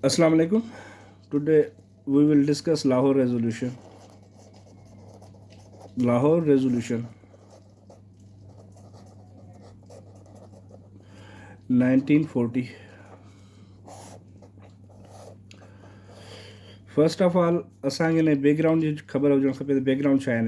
اسلام عليڪم today we will discuss Lahore resolution Lahore resolution 1940 first of all اسان کي ان بيڪ گرائونڊ جي خبر هجڻ کپي ته بيڪ گرائونڊ ڇا آهن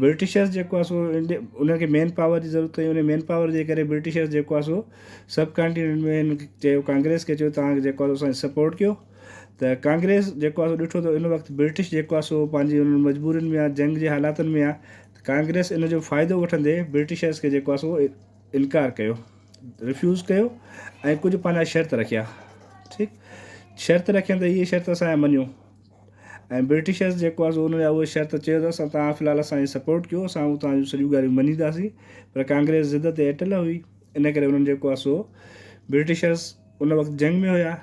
برٽشرز جيڪو آهي سو انهن کي مين پاور جي ضرورت هئي ان مين پاور جي ڪري برٽشرز جيڪو آهي سو سب ڪانٽيننٽ ۾ هن چيو ڪانگريس کي چيو تان جيڪو آهي اسان سپورٽ ڪيو ته ڪانگريس جيڪو آهي سو ڏٺو ته ان وقت برٽش جيڪو آهي سو پنهنجي انهن مجبورين ۾ جنگ جي حالاتن ۾ آهي ڪانگريس ان جو فائدو وٺندي برٽشرز کي جيڪو آهي سو انڪار ڪيو رفيوز ڪيو ۽ ڪجهه پنهنجا شرط رکيا ٺيڪ شرط رکيا ته هي شرط اسان مڃيو ۽ برٽشرز جيڪو آهي سو ان جا اهي شرط چيو ته اسان توهان في الحال اسان جي سپورٽ ڪيو اسان اهو توهان جون سڄيون ڳالهيون مڃينداسين پر ڪانگريس ضد تي اٽل هئي ان ڪري انهن جيڪو آهي سو برٽشرز ان وقت جنگ ۾ هيا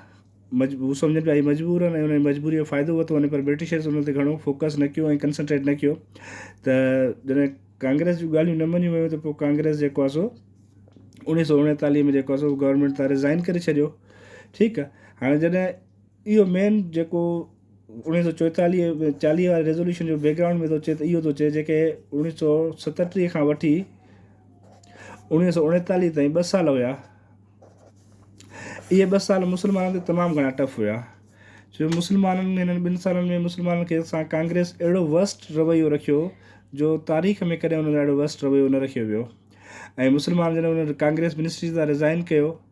مجب هو سمجهن پيا هي مجبور آهن ۽ ان مجبوري جو فائدو ورتو وڃي پر برٽشرز ان تي گهڻو فوڪس نه ڪيو ۽ ڪنسنٽريٽ نه ڪيو ته جڏهن ڪانگريس جون ڳالهيون نه مڃيون ويون ته پوء ڪانگريس جيڪو آهي سو اوڻيهه سو اوڻيتاليهه ۾ جيڪو آهي سو گورنمنٽ تان رزائن ڪري ڇڏيو ٺيڪ آهي هاڻي جڏهن اهو مين جيڪو اوڻيهه سؤ چوئيتاليهه ۽ چاليهه واري ريزوليوشن جو بيڪ گرائونڊ ۾ ٿو اچي ته اهو ٿو چئي جيڪي اوڻيهه سؤ ستٽيهه کان وٺي اوڻيهه سؤ اوڻيتاليهه تائين ٻه سال هيا اهي ٻه سال مسلمانن تي تمام گهڻا ٽف هيا جو مسلمانن هنن ٻن سالن ۾ مسلمانن کي سان ڪانگريس اهڙو ورسٽ رويو رکيو جو تاريخ ۾ ڪڏهن ان اهڙو ورسٽ رويو نه رکيو ويو ۽ مسلمان جڏهن ان ڪانگريس منسٽري تان رزائن ڪيو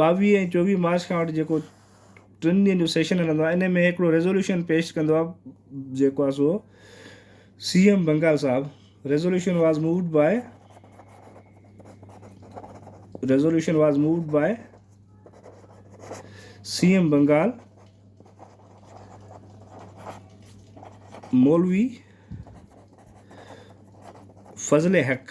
ٻاويهه ۽ چوويهه مارچ کان وٺي جيڪو ٽن ڏينهن جو سيشن هلندو آهي ان ۾ هڪڙو ريزوليوشن پيش ڪندو آهي جيڪو آهي سو سي ايم بنگال صاحب resolution was moved by resolution was moved by C M Bengal مولوي فضل حق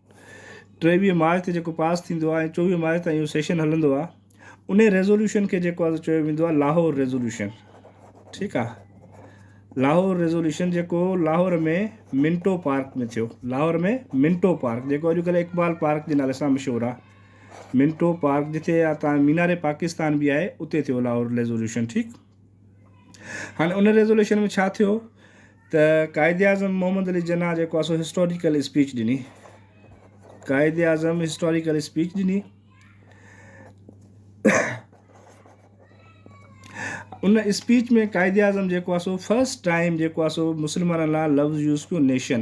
ٽيويهه مارچ تي جيڪو پاس ٿيندو آهي ۽ چوويهه مارچ تائين اهو سيشن هلندو آهي انهي ريزوليوشن کي جيڪو آهي چيو ويندو آهي لاهور ريزوليوشن ٺيڪ آهي لاهور ريزوليوشن جيڪو لاهور ۾ منٽو پارڪ ۾ ٿيو لاهور ۾ منٽو پارڪ جيڪو اڄڪلهه اقبال پارڪ جي نالي سان مشهور آهي منٽو پارڪ جتي تان مينار پاڪستان به آهي اتي ٿيو لاهور ريزوليوشن ٺيڪ هاڻي ان ريزوليوشن ۾ ڇا ٿيو ته قائداعظم محمد علي جناح جيڪو آهي سو هسٽوريڪل اسپيچ ڏني قائداعظم هسٽوريڪل اسپيچ ڏني ان اسپيچ ۾ قائداعظم جيڪو آهي سو فسٽ ٽائم جيڪو آهي سو مسلمانن لا لفظ يوز ڪيو نيشن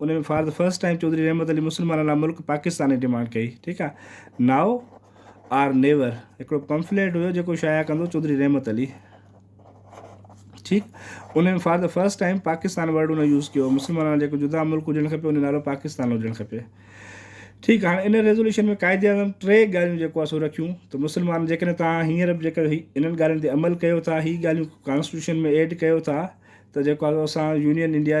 ان ۾ for the first time Chaudhry Rahmat Ali مسلمانن لاء ملڪ پاڪستان جي ڊيمانڊ ڪئي ٺيڪ آ ناء آر نيور هڪڙو پمفليٽ هيو جيڪو شايع ڪندو چوڌري رحمت علي ٺيڪ ان ۾ for the first time Pakistan word ان يوز ڪيو مسلمانن لاء جيڪو جدا ملڪ هجڻ کپي ان نالو پاڪستان هجڻ کپي ٺيڪ هاڻي ان ريزولوشن ۾ قائد اعظم ٽي ڳالهيون جيڪو اسو رکيون ته مسلمان جيڪڏهن توهان هينئر به جيڪر انهن ڳالهين تي عمل ڪيو ٿا هي ڳالهيون ڪانسٽيٽيوشن ۾ ايڊ ڪيو ٿا ته جيڪو اسان يونين انڊيا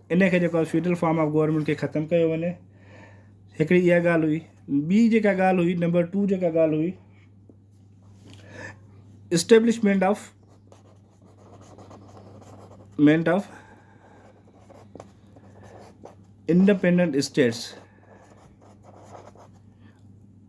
ان کي جيڪو آهي فيڊرل فارم آف گورنمينٽ کي ختم ڪيو وڃي هڪڙي اها ڳالهه هئي ٻي جيڪا ڳالهه هئي نمبر ٽو جيڪا ڳالهه هئي اسٽيبلشمينٽ آف مينٽ آف انڊيپينڊنٽ اسٽيٽس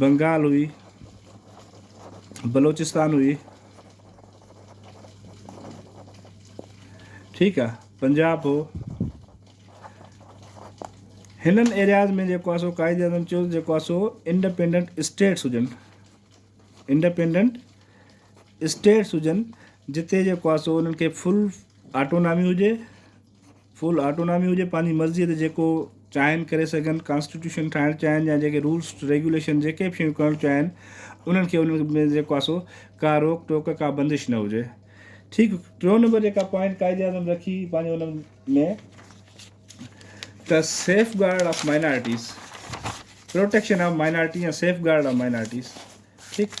بنگال هئي، بلوچستان هئي، ٺيڪ آ پنجاب هو، هنن ايرياز ۾ جيڪو آ سو قائد اعظم چيو جيڪو آ سو انڊيپينڊنٽ اسٽيٽس هجن انڊيپينڊنٽ اسٽيٽس هجن جتي جيڪو آ سو انهن کي فل آٽونامي هجي فل آٽونامي هجي پنهنجي مرضي تي جيڪو چاهين ڪري سگهن ڪانسٽيٽيوشن ٺاهڻ چاهين يا جيڪي رولس ريگوليشن جيڪي به شيون ڪرڻ چاهين انهن کي انهن ۾ جيڪو آسو ڪا روڪ ٽوڪ ڪا بندش نه هجي ٺيڪ ٽيون نمبر جيڪا پوائنٽ قائد اعظم رکي پنهنجي انهن ۾ ته safeguard of minorities protection of minority يا سيف گارڊ آف مائنارٽيز ٺيڪ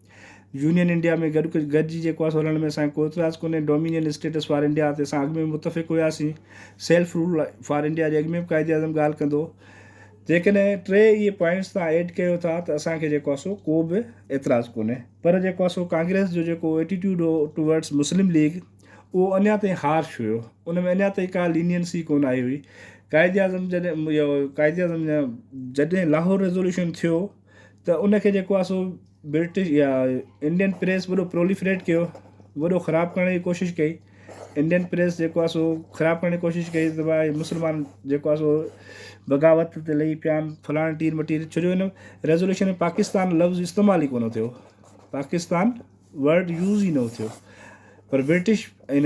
يونين انڊيا ۾ گڏ گڏجي جيڪو آهي سو هلڻ ۾ اسان کي ڪو اعتراض ڪونهي، ڊومينين اسٽيٽس فار انڊيا تي اسان اڳ ۾ به متفق هياسين، سيلف رول فار انڊيا جي اڳ ۾ به قائد اعظم ڳالهه ڪندو هو، جيڪڏهن ٽي اهي پوائنٽس تهان ايڊ ڪيو ٿا ته اسان کي جيڪو آهي سو ڪو به اعتراض ڪونهي پر جيڪو آهي سو ڪانگريس جو جيڪو ايٽيٽيوڊ هو ٽوورڊز مسلم ليگ اهو اڃا تائين هارش هيو ان ۾ اڃا تائين ڪا لينينسي ڪونه آئي هئي، قائد اعظم جڏهن اهو قائد اعظم جڏهن لاهور ريزوليوشن ٿيو. ته ان کي جيڪو آهي سو برٽش يا انڊين پريس وڏو پروليفريٽ ڪيو وڏو خراب ڪرڻ جي ڪوشش ڪئي انڊين پريس جيڪو آهي سو خراب ڪرڻ جي ڪوشش ڪئي ته بھا هي مسلمان جيڪو آهي سو بغاوت تي لھي پيا آهن فلاڻي ٽير مٽير ڇو جو ان ريزولوشن ۾ پاڪستان لفظ استعمال ئي ڪونه ٿيو پاڪستان ورڊ يوز ئي نو ٿيو پر برٽش ائين